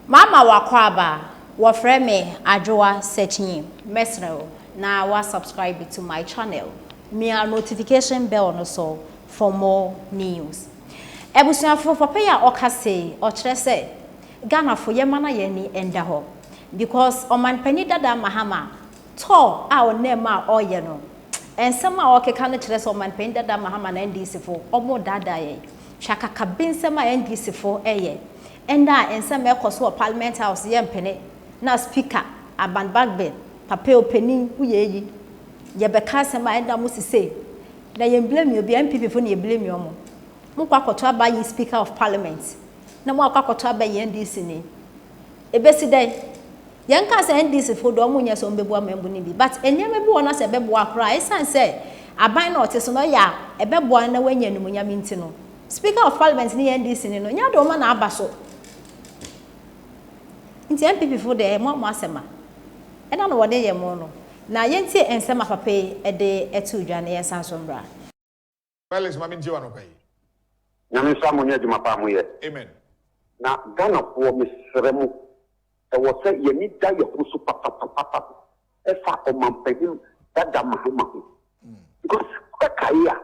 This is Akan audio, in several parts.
Mama w'akwaaba, wɔfrɛ me Adwoa Sekyi. Mɛsrɛ wo na wa subscribe to my channel, mia notification bell no so for more news. Abusuafo, papa yi a ɔka sei, ɔkyerɛ sɛ Ghanafo yɛma na yɛn ani nda hɔ because Ɔmanpanin dada Mahama tour a ɔnam mu a ɔreyɛ no, nsɛm a ɔrekeka no kyerɛ sɛ Ɔmanpanin dada Mahama na NDCfo wɔredaadaa yɛn. Hwɛ akakabensɛm a NDCfo reyɛ. Nna a nsɛm a ɛkɔ so wɔ Parliament House yɛ mpene na Speaker Aban Bagbin, Papa Opanin, wo yɛ eyi? Yɛ bɛ ka asɛm a nna mo si sei. Na yɛn blame obi a, NPP fo na yɛ blame ɔmo. Mo kɔ akɔto aba yi Speaker of Parliament na mo akɔ akɔto aba yi NDC ni. Ebesi dɛn? Yɛn nka sɛ NDC fo de ɔmo nyɛ sɛ ɔmo bɛboa mɛmbo no bi but nneɛma bi wɔ hɔ na sɛ ɛbɛboa koraa a, ɛsan sɛ aban na ɔte so no ɔyɛ a ɛbɛboa no na wanya animuonyam nti no, Speaker of Parliament no yɛ NDC ni no nyɛ ade ɔma na aba so nti NPP fo deɛ mo a mo asɛm a ɛna no wɔde yɛ mo no na yɛntie nsɛm a papa yi de ɛtoo dwa no yɛnsan so mbra. Felix ma me ntie wo anɔpa yi. Nyame nhyira mo ne adwuma pa a mo yɛ. Amen. Na Ghana foɔ mesrɛ mo. Ɛwɔ sɛ yɛn ani da yɛn ho so papapapapa ɛfa Ɔmanpanyin Dada Mahama ho. Because wobɛkae a,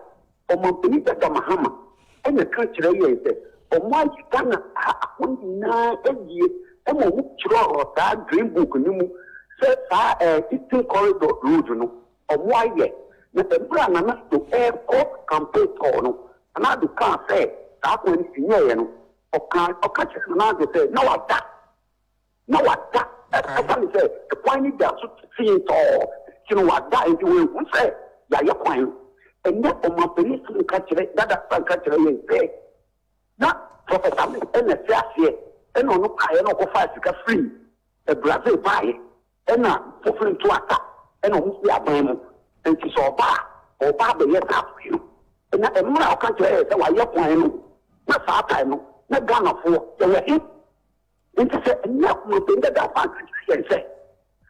Ɔmanpanyin Dada Mahama ɛna ɛka kyerɛɛ yɛn sɛ wɔn ayi Ghana ha hɔ nyinaa awie ɛma wɔn twerɛɔ saa Green Book no mu sɛ saa ɛɛ Eastern Corridor Road no wɔn ayɛ. Na ɛberɛ a Nana Addo ɛrekɔ campaign tour no, Nana Addo kaa sɛ saa kwan no sɛ nyɛɛyɛ no Ɔkaa, ɔka kyerɛɛ Manase sɛ na wada, na wada, ɛ, ɛsiane sɛ ɛkwan no da so tee tɔɔ nti no wada, nti wanhu sɛ yɛayɛ kwan no. Ɛnnɛ ɔmanpanin san ka kyerɛ, dada san ka kyerɛ yɛn sɛ na Prɔfɛt Amis na ɛte aseɛ, ɛna ɔno baeɛ na ɔkɔfaa sika firii Brazil baeɛ. Ɛna foforo ntu asa ɛna ɔmo fi aban mu nti sɛ ɔba a ɔba abɛyɛ saafo bio ɛna ɛmmerɛ a ɔka kyerɛ yɛ sɛ wayɛ kwan no na saa tae no na Ghana foɔ yɛwɔ he nti sɛ ɛnyɛ akomaten dada afa ankyerɛkyerɛ yɛn sɛ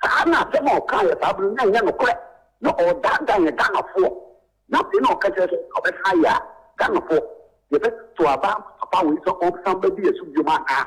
saa na asɛm a ɔkaa yɛ saa bere no na ɛnyɛ nokorɛ na ɔredaadaa yɛn Ghana foɔ na afei na ɔka kyerɛ sɛ ɔbɛsan ayɛ a Ghana foɔ yɛbɛtoto aba ama papa wei sɛ ɔnsan bɛdi yɛ so biom anaa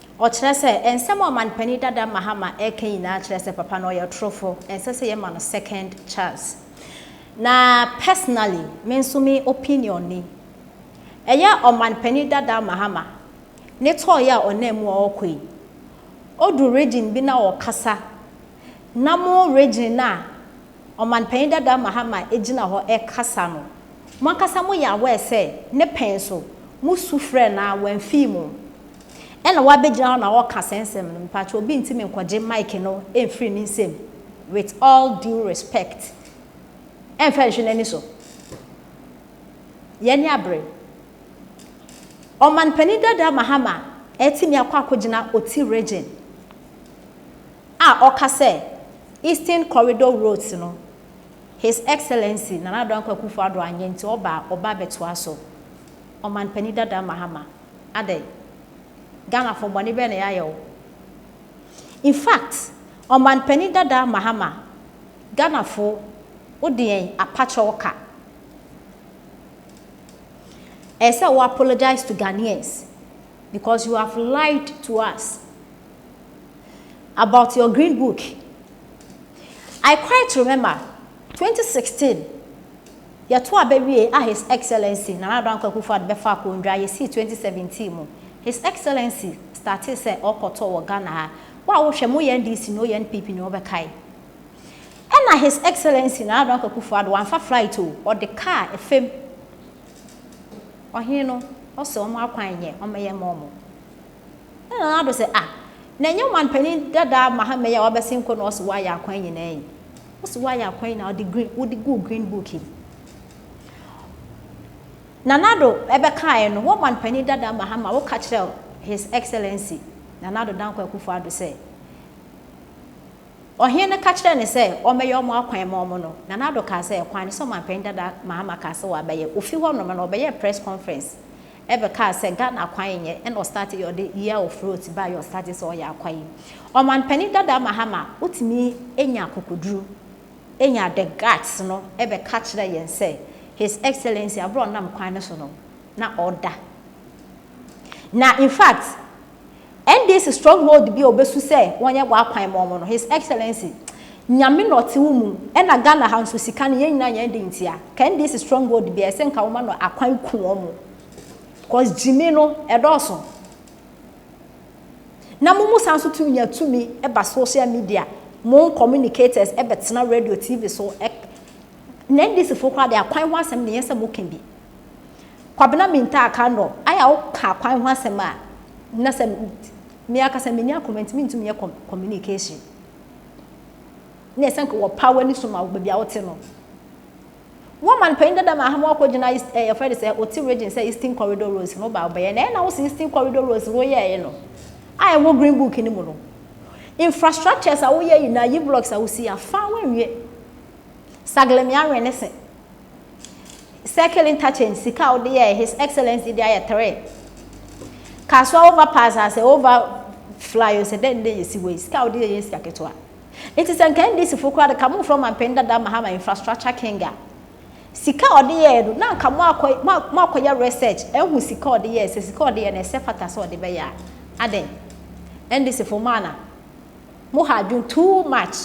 Ɔkyerɛ sɛ, nsɛm a Ɔmanpanin dada Mahama reka nyinaa kyerɛ sɛ papa no ɔyɛ ɔtorofo, ɛnsɛ sɛ yɛma no second chance. Na personally, me nso me opinion ni, ɛyɛ Ɔmanpanin dada Mahama ne tɔɔ yɛ a ɔnam mu a ɔrekɔ yi, ɔdu region bi na ɔrekasa, na mo region no a Ɔmanpanin dada Mahama gyina hɔ rekasa no, mo ankasa moyɛ aware sɛ ne pɛn so, mosu frɛɛ no ara wamfii mo, Ɛna w'abɛgyina hɔ na wɔka saa nsɛm no, mpakyɛw obi ntumi nkɔgye mic no mfiri ne nsam with all due respect. Ɛnfa nhwe n'ani so. Yɛn ani abere. Ɔman panin dada Mahama atumi akɔ akɔgyina Oti region a ɔka sɛ Eastern Corridor roads no His Excellency Nana Addo Dankwa Akufo-Addo anyɛ nti ɔba a ɔba abɛtoa so. Ɔman panin dada Mahama. Adɛn? Ghanafoɔ bɔne bɛn na yɛayɛ wo? In fact, Ɔmanpanin dada Mahama, Ghanafoɔ wode yɛn apakyɛw ka. Ɛyɛ sɛ wo apologise to Ghanaians because you have lied to us about your Green Book. I quite remember 2016 Yɛto aba wie a His Excellency Nana Addo Dankwa Akufo-Addo bɛfa akondwa, yɛsii 2017 mu. His Excellency startee sɛ ɔɔkɔ tour wɔ Ghana ha. Wo a wohwɛ, mo NDC ne ONPP ne wɔbɛkae. Ɛna His Excellency Nana Addo Dankwa Akufo-Addo wamfa flight o, ɔde car ɛfam. Ɔhene no ɔsɛ wɔn akwan nyɛ, ɔmmɛyɛ mma wɔn. Ɛna Nana Addo sɛ, ah, na ɛnyɛ ɔmanpanin dada Mahama yi a wabɛsen kɔ na ɔse wayɛ akwan nyinaa yi? Wose woayɛ akwan yi na wode green wode guu green book yi. Nanado ɛbɛkaeɛ no woman panin dada Mahama woka kyerɛ His Excellency Nanado Danko Akufo Ado sɛ ɔhene no ka kyerɛ ne sɛ ɔmmɛyɛ ɔmo akwan ma ɔmo no Nanado kaa sɛ kwan ne sɛ ɔman panin dada Mahama kaa sɛ wabɛyɛ ofi hɔ nom no ɔbɛyɛɛ press conference Ɛbɛ kaa sɛ Ghana akwae nyɛ ɛna ɔstarte yɛ ɔde year of rote baa yɛ ɔstarte sɛ ɔyɛ akwae. Ɔman panin dadaa Mahama wotumi nya akokoduru nya the guts no ɛbɛ ka kyerɛ yɛn sɛ his excellency aberɛ a ɔnam kwan no so no na ɔda na in fact NDC stronghold bi a obesu sɛ wɔnyɛ bɔ akwan ma wɔn no, His Excellency, Nyame na ɔte wo mu, ɛna Ghana ha nso sika no yɛn nyinaa yɛn de ntia. Ka NDC stronghold biara ɛsɛ nka woma no akwan ku wɔn cause gyimi no ɛdɔɔso. Na mo mu san so tumi nya tumi ɛba social media, mo communicators ɛbɛtena radio, TV so, na NDC fo koraa de akwan ho asɛm ne yɛn sɛ mo ka bi. Kwabena Mintah Kandor, ayɛ a woka akwan ho asɛm a, na sɛ me ankasa menni akoma nti mentumi nyɛ communication. Na ɛsɛ nka wɔpa w'ani so ma wo baabi a wote no. Wo man panyin dada ma Ahama wakɔgyina East eh, yɛfrɛ no sɛ Oti region sɛ Eastern Corridor Roads no ba wobɛyɛ. Na ɛyɛ na wo sɛ Eastern Corridor Roads no woyɛeɛ no a ɛwɔ Green Book no mu no, infrastructures a woyɛ nyinaa, yi blocks a wosii a, fa a woanwie. Saglem Yaren ne se. Circle interchange sika a wode yɛɛ His Excellency de ayɛ three. Kasoa overpass a sɛ over fly o sɛ dɛn dɛn yɛsi wei sika a wode yɛ yɛ sika ketewa. Nti sɛ nka NDC fo koraa de ka momfrɛ ɔmanpanin dada Mahama infrastructure king a sika a ɔde yɛɛ no na nka moakɔ moakɔyɛ research ahu sika a ɔde yɛɛ sɛ sika a ɔde yɛ no ɛsɛ fata sɛ ɔde bɛyɛ a adɛn NDC fo mo ana mo ha adwene too much.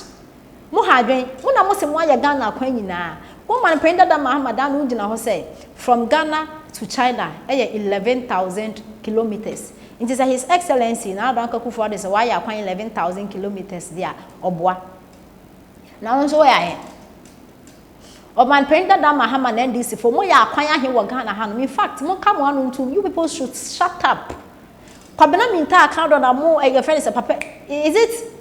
Mo ha adwen, mo na mo se mo ayɛ Ghana akwan nyinaa, mo man panin dada Mahama daa ne ho gyina hɔ sɛ from Ghana to China yɛ eleven thousand kilometres, nti sɛ His Excellency Nana Dankwa Akufo-Addo sɛ wayɛ akwan eleven thousand kilometres de a, ɔboa. Na wo nso wo yɛ ahe? Ɔman panin dada Mahama na NDC foɔ, mo yɛ akwan ahe wɔ Ghana hanom? In fact, mo nka mo ano ntom, you people should shut up. Kwabena Mintah aka do na mo eh, yɛfrɛ no sɛ papa is it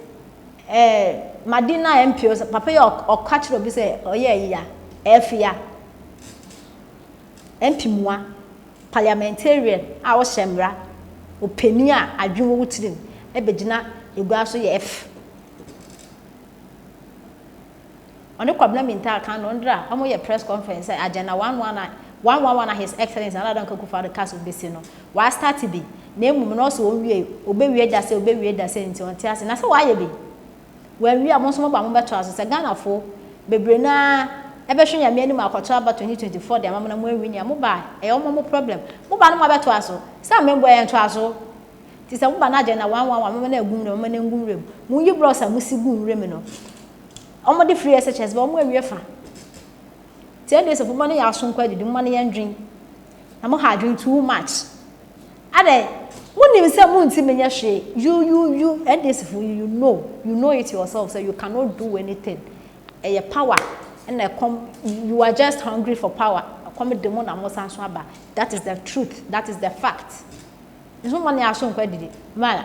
eh, Madina MPO sɛ papa yi ɔka kyerɛ obi sɛ ɔyɛ ayia ɛfia mpimua parliamentarian a ɔhyɛ mmara ɔpanin a adwene wɔ wo tirim ɛbɛgyina egua so yɛ ɛf Ɔne Kwabena Mintaa kan no ndra ɔmo yɛ press conference sɛ agenda one one a one one one a His Excellence Nana Addo Dankwa Akufo Addo cas obesi no wa start bi na emum no ɔse onwiei obewie da sɛ obewie da sɛ nti ɔnte ase na sɛ wayɛ bi wanwie a mo nso mo ba mo bɛ toa so sɛ Ghana fo bebree no ara ɛbɛ hwɛ Nyame anim akɔ to aba twenty twenty four de ama mo na mo anwini a mo ba a ɛyɛ ɔmo ɔmo problem mo ba no mo abɛ toa so sɛ amemboa yɛn toa so. Ntsi sɛ moba no agyɛ no na ɔannwan a, momma no agu nwura mu, momma no ngu nwura mu. Munnyi brɔs a musi gu nwura mu no. Wɔde firi SHS ba, wɔawie fa. Ntsi ɛnde sɛ momma no yɛ aso nkɔ edidi, momma no yɛndwen. Na moha adwen too much. Adɛ, munim sɛ munntsi menyɛ hwee. You, you, you, NDCfo, you, you know, you know it yourself sɛ you cannot do anything. Ɛyɛ power na ɛkɔm, you are just hungry for power. Ɛkɔm de mo na mosan so aba. That is the truth that is the fact nso mmɔ ne aso nkɔ adidi mmaa.